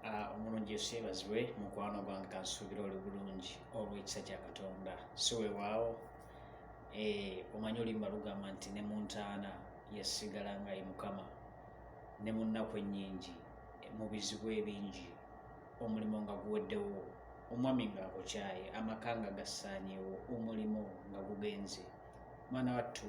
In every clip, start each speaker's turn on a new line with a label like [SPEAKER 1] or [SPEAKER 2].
[SPEAKER 1] Ah, omulungi yesu yebazibwe mukwano gwange kansuubira oli bulungi olwekisa kya katonda si wewaawo eh, omanyi olimba lugamba nti ne mu ntaana yasigala nga ye mukama ne mu nnaku ennyingi mu bizibu ebingi omulimu nga guweddewo omwami nga akukyaye amaka nga gassaanyewo omulimu nga gugenze mwana wattu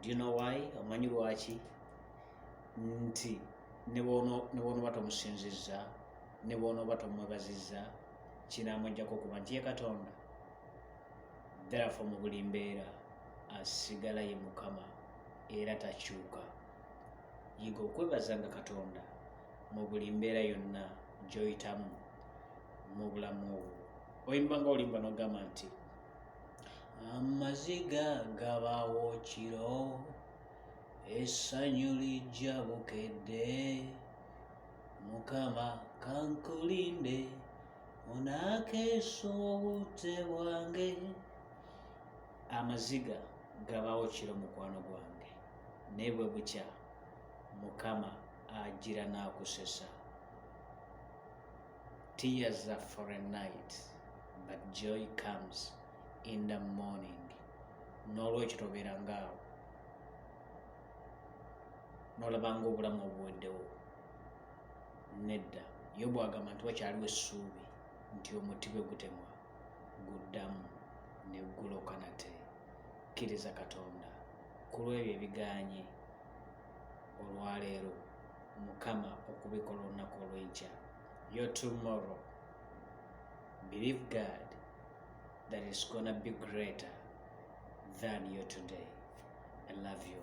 [SPEAKER 1] do you know why omanyi lwaki nti nebwonoba tomusinzizza nebwonoba tomwebazizza kinamujjako okuba nti ye katonda therefore mu buli mbeera asigala ye mukama era takyuka yiga okwebazanga katonda mu buli mbeera yonna gyoyitamu mu bulamu obwo oyimba nga olimba nogamba nti amaziga gabawo kiro essanyu lijja bukedde mukama kankulinde onakeesa obudde bwange amaziga gabawo kiro mukwano gwange naye bwe bukya mukama agira n'akusesa Tears are for a night but joy comes in the morning. N'olwekyo tobeera ngaawo n'olaba ng'obulamu obuweddewo. Nedda, Yobu agamba nti wakyaliwo essuubi nti omuti bwe gutemwa guddamu ne guloka nate. Kkiriza Katonda ku lw'ebyo ebigaanye olwaleero mukama okubikola olunaku olwenkya your tomorrow believe god that is gonna be greater than your today i love you